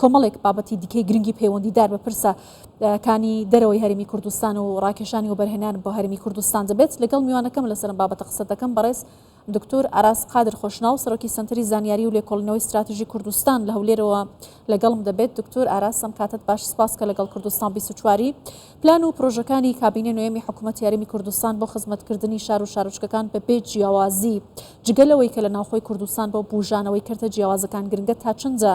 کۆمەڵێک بابەتی دیکەی گرنگی پەیوەندیدار بە پرسە کانی دەرەوەی هەرمی کوردستان و ڕاکێشانی وەبەرهێنان بۆ هەرمی کوردستان دەبێت لەگەڵ میوانەکەم لەسەرم بابەتە قسە دەکەم بەڕێز دکتۆر ئاراس قادر خۆشناو سەرۆکی سنتری زانیاری و لێکۆڵنەوەی استراتژی کوردستان لە هەولێرەوە لەگەڵم دەبێت دکتۆر ئاراسم کاتت باش سپاس کە لەگەڵ کوردستان 24واری پلان و پرۆژەکانی کابینە نوێمی حکوومەت یاریمی کوردستان بۆ خزمەتکردنی شار و شارچکەکان بە بێ جیاوازی جگەلەوەی کە لە ناوخۆی کوردستان بۆ بژانەوەی کردە جیاوازەکان گرنگە تا چندە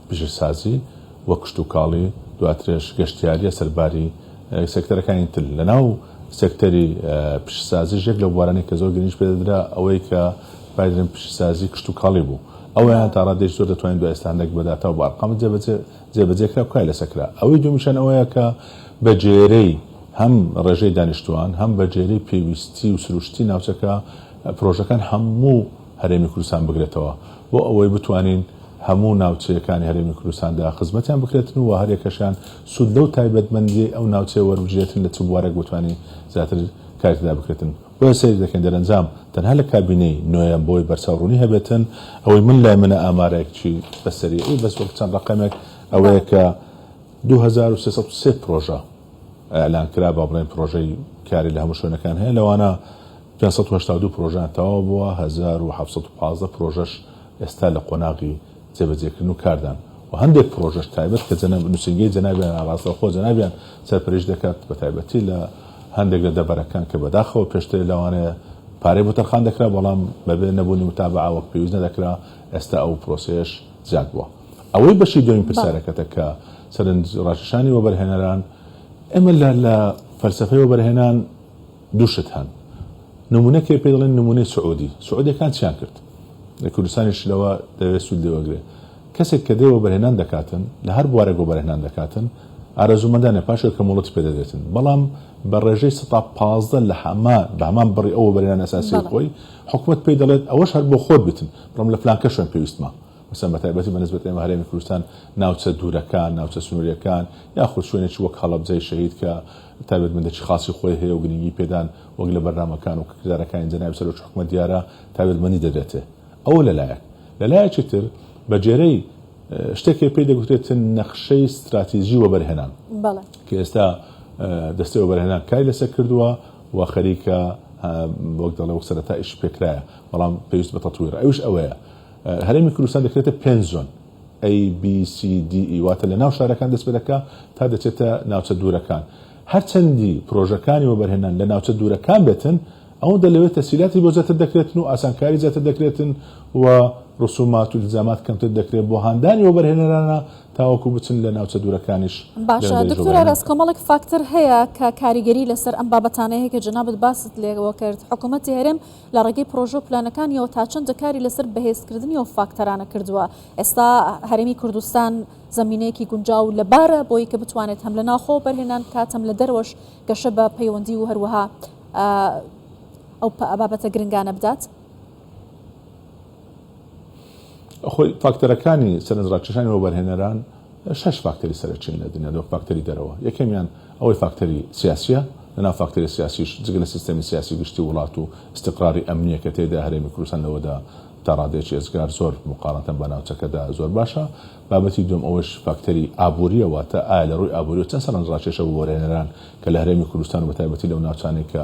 پیشەسازی و کشتوکاڵی، دواترش گەشتیارییە سەرباری سێکتەرەکانی تر. لەناو سێکتەری پیشەسازیش یەک لەو بوارانەی کە زۆر گرنگیی پێدەدرا ئەوەی کە بایدرێن پیشەسازی کشتوکاڵی بوو. ئەوەیان تا ڕادەیەکی زۆر دەتوانین دوای ئێستا هەندێک بە داتا و بە ئەرقام جێبەجێ کرا و کاری لەسەر کرا. ئەوەی دوومیشیان ئەوەیە کە بەگێرەی هەم ڕێژەی دانیشتووان، هەم بەگێرەی پێویستی و سروشتی ناوچەکە پرۆژەکان هەموو، هەرێمی کوردستان بگرێتەوە بۆ ئەوەی بتوانین هەموو ناوچەیەکانی هەرێمی کوردستان دا خزمەتیان بکرێتن و هەریەکەشیان سوود لەو تایبەتمەندییەی ئەو ناوچەیە وەربگرێتن لە چ بوارێک بتوانین زیاتر کاری تێدا بکرێتن بۆیە سەیر دەکەین دەرەنجام تەنها لە کابینەی نۆیەم بۆی بەرچاو ڕوونی هەبێتن ئەوەی من لای منە ئامارێکی بە سەریعی بەس وەک چەند ڕەقەمێک ئەوەیە کە دوو هەزار و سێ سەد و سێ پرۆژە ئیعلان کرا با بڵێین پرۆژەی کاری لە هەموو شوێنەکان هەیە لەوانە پێنج سەد و هەشتا و دوو پرۆژەیان تەواو بووە، هەزار و حەڤسەد و پازدە پرۆژەش ئێستا لە قۆناغی جێبەجێکردن و کاردان و هەندێک پرۆژەش تایبەت کە نووسینگەی جەنابیانە ڕاستەوخۆ جەنابیان سەرپەرشتی دەکات بە تایبەتی لە هەندێک لە دەڤەرەکان کە بەداخەوە پێشتر لەوانەیە پارەی بۆ تەرخان دەکرا بەڵام بەبێ نەبوونی متابەعە وەک پێویست نەدەکرا ئێستا ئەو پرۆسەیەش زیاد بووە. ئەوەی بەشی دووەمی پرسیارەکەتە کە سەرنج ڕاکێشانی وەبەرهێنەران ئێمە لە فەلسەفەی وەبەرهێنان، دوو شت هەن نمونە کێ پێی دەڵێن نمونەی سعودی سعودیەکان چیان کرد لە کوردستانیش لەوە دەوێت سود لێ وەگرێ کەسێک کە دەی وەبەرهێنان دەکاتن لە هەر بوارێک وەبەرهێنان دەکاتن ئارەزومەندانە پاش ئەوکە مۆڵەتی پێ دەدرێتن بەڵام بە ڕێژەی سەتا پازدە لە هەما بە هەمان بڕی ئەو وەبەرهێنان ئەساسی بەڵێ خۆی حکومەت پێی دەڵێت ئەوەش هەر بۆ خۆت بتن بڕۆم لە فلانکە شوێن پێویستمە مەسەن بە تایبەتی بە نسبەت ئێمە هەرێمی کوردستان ناوچە دوورەکان ناوچە سنوریەکان یاخود شوێنێکی وەک هەڵەبجەی شەهید کە تایبەتمەندێکی خاسی خۆی هەیە و گرنگی پێدان وەک لە بەرنامەکان و کردارەکانی جەنابی سەرۆکی حکومەت دیارە تایبەتمەندی دەبێتێ. ئەوە لە لایەک. لە لایەکی تر بە گێرەی شتێک هەیە پێی دەگوترێتن نەخشەی ستراتیجی وەبەرهێنان کە ئێستا دەستەی وەبەرهێنان کاری لەسەر کردووە و خەریکە وەک دەڵێ وەک سەرەتا ئیشی پێکرایە بەڵام پێویست بە تەتویرە ئەویش ئەوەیە هەرێمی کوردستان دەکرێتە پێنج زۆن. ABCDE، واتە لە ناو شارەکان دەست پێ دەکا تا دەچێتە ناوچە دوورەکان. هەر چەندی پرۆژەکانی وەبەرهێنان لە ناوچە دوورەکان بێتن، ئەوەندە لەوێ تەسهیلاتی بۆ زیاتر دەکرێتن و ئاسانکاری زیاتر دەکرێتن و رسومات و التزامات کەمتر دەکرێ بۆ هاندانی وەبەرهێنەرانە تاوەکو بچن لە ناوچە دوورەکانیش باشە دکتۆر ئاراس کۆمەڵێک فاکتەر هەیە کە کاریگەری لەسەر ئەم بابەتانە هەیە کە جەنابت باست لێوە کرد حکوومەتی هەرێم لە ڕێگەی پرۆژە و پلانەکانیەوە تا چەندە کاری لەسەر بەهێزکردنی ئەو فاکتەرانە کردووە؟ ئێستا هەرێمی کوردستان زەمینەیەکی گونجاو لەبارە بۆی کە بتوانێت هەم لە ناوخۆوە بەرهێنان بکات هەم لە دەرەوەش گەشە بە پەیوەندی و هەروەها ئەو بابەتە گرنگانە بدات؟ خۆی فاکتەرەکانی سەرنجڕاکێشانی وەبەرهێنەران، شەش فاکتەری سەرەکین لە دنیادا وەک فاکتەری دەرەوە، یەکەمیان ئەوەی فاکتەری سیاسییە، لە ناو فاکتەری سیاسیش جگە لە سیستەمی سیاسی گشتی وڵات و ئیستیقراری ئەمنییە کە تێیدا هەرێمی کوردستان لەوەدا تا ڕادەیەکی ڕزگار زۆر موقارەتەن بە ناوچەکەدا زۆر باشە، بابەتی دووەم ئەوەش فاکتەری ئابوورییە واتە ئایا لە ڕووی ئابوورییەوە چەند سەرنجڕاکێشە بۆ وەرهێنەران کە لە هەرێمی کوردستان و بە تایبەتی لەو ناوچانەی کە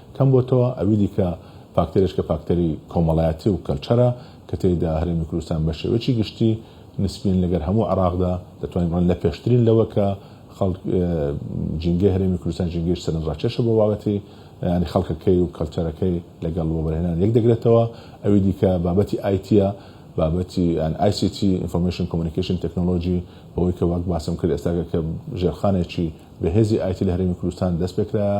کەم بۆتەوە، ئەوی دیکە فاکتەرێش کە فاکتەری کۆمەڵایەتی و کەلچەرە کە تێیدا هەرێمی کوردستان بە شێوەیەکی گشتی نسبیەن لەگەر هەموو عێڕاقدا دەتوانین بڵێن لە پێشترین لەوە کە خەڵک ژینگەی هەرێمی کوردستان ژینگەیەکی سەرنج ڕاکێشە بۆ بابەتی یانی خەڵکەکەی و کەلچەرەکەی لەگەڵ وەبەرهێنان یەک دەگرێتەوە، ئەوی دیکە بابەتی ئایتیە بابەتی یان ئای سی تی Information Communication Technology بەوەی کە وەک باسم کرد ئێستاکە کە ژێرخانێکی بەهێزی ئایتی لە هەرێمی کوردستان دەست پێکرایە،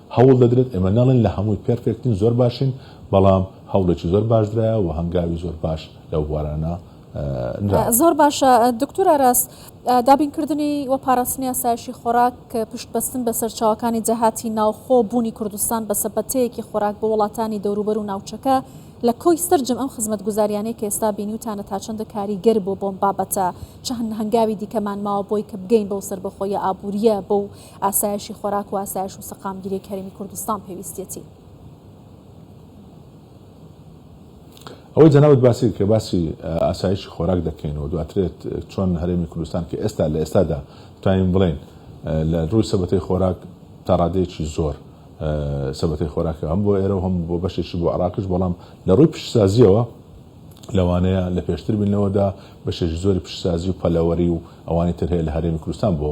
هەوڵ دەدرێت، ئێمە نەڵێن لە هەمووی پێرفێکتین، زۆر باشین، بەڵام هەوڵێکی زۆر باش درایە و هەنگاوی زۆر باش لەو بوارانە نراوە. زۆر باشە دکتور ئاراس، دابینکردنی و پاراستنی ئاسایشی خۆراک پشت بەستن بە سەرچاوەکانی داهاتی ناوخۆ بوونی کوردستان بە سەبەتەیەکی خۆراک بۆ وڵاتانی دەوروبەر و ناوچەکە لە کۆی سەرجەم ئەم خزمەتگوزاریانەی کە ئێستا بینیوتانە تا چەندە کاریگەر بۆ بۆم بابەتە چ هەنگاوی دیکەمان ماوە بۆی کە بگەین بەو سەربەخۆییە ئابوورییە بەو ئاسایشی خۆراک و ئاسایش و سەقامگیریی هەرێمی کوردستان پێویستیەتی. ئەوەی جەنابت باسی دەکەی باسی ئاسایشی خۆراک دەکەین و دواترێت چۆن هەرێمی کوردستان کە ئێستا لە ئێستادا توانین بڵێین لە ڕووی سەبەتەی خۆراک تا ڕادەیەکی زۆر سەبەتەی خۆراکە هەم بۆ ئێرە و هەم بۆ بەشێکی بۆ عراقش بەڵام لە ڕووی پیشسازیەوە لەوانەیە لە پێشتر بین لەوەدا بەشێکی زۆری پیشسازی و پەلەوەری و ئەوانی تر هەیە لە هەرێمی کوردستان بۆ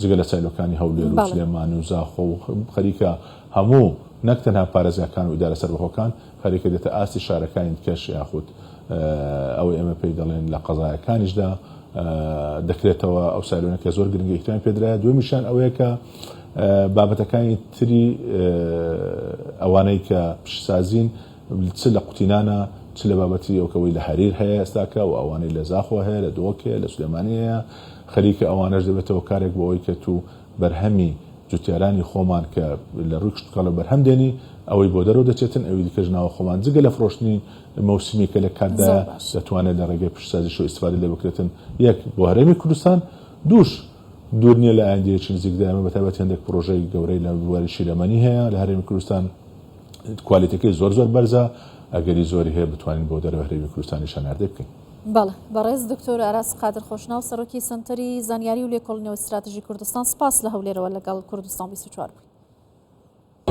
جگە لە سایلۆکانی هەولێر و سلێمانی و زاخۆ و خەریکە هەموو نەک تەنها پارێزگاکان و ئیدارە سەربەخۆکان خەریکە دێتە ئاستی شارەکانی دیکەش یاخود ئەوەی ئێمە پێی دەڵێن لە قەزایەکانیشدا دەکرێتەوە ئەو سایلۆنە کە زۆر گرنگی ئیحترامی پێدرایە دومیشان ئەوەیە کە بابەتەکانی تری ئەوانەی کە پیشسازین چ لە قوتینانە چ لە بابەتی ئەوکەوەی لە هەریر هەیە ئێستاکە و ئەوانەی لە زاخۆ هەیە لە دۆک هەیە لە سلێمانی هەیە خەریکە ئەوانەش دەبێتەوە کارێک بۆ ئەوەی کە تو بەرهەمی جوتیارانی خۆمان کە لە رووی کشتوکاڵەوە بەرهەم دێنی ئەوەی بۆ دەرەوە دەچێتن ئەوی دیکەش ناوە خۆمان جگە لە فرۆشتنی مەوسیمی کە لە کاتدایە دەتوانێت لە رێگەی پیشەسازیشەوە ئیستفادە لێ بکرێتن یەک بۆ هەرێمی کوردستان دووش دوور نییە لە ئایندەیەکی نزیکدا ئێمە بە تایبەت هێندێک پرۆژەی گەورەی لە بواری شیرەمەنی هەیە لە هەرێمی کوردستان کوالێتیەکەی زۆر زۆر بەرزە ئەگەری زۆری هەیە بتوانین بۆ دەرەوەی هەرێمی کوردستانیش هەناردەی بکەین. بەڵێ بەڕێز دکتۆر ئاراس قادر خۆشناو سەرۆکی سنتەری زانیاری و لێکۆڵینەوە ستراتژی کوردستان سپاس لە هەولێرەوە لەگەڵ کوردستان 24 بووی.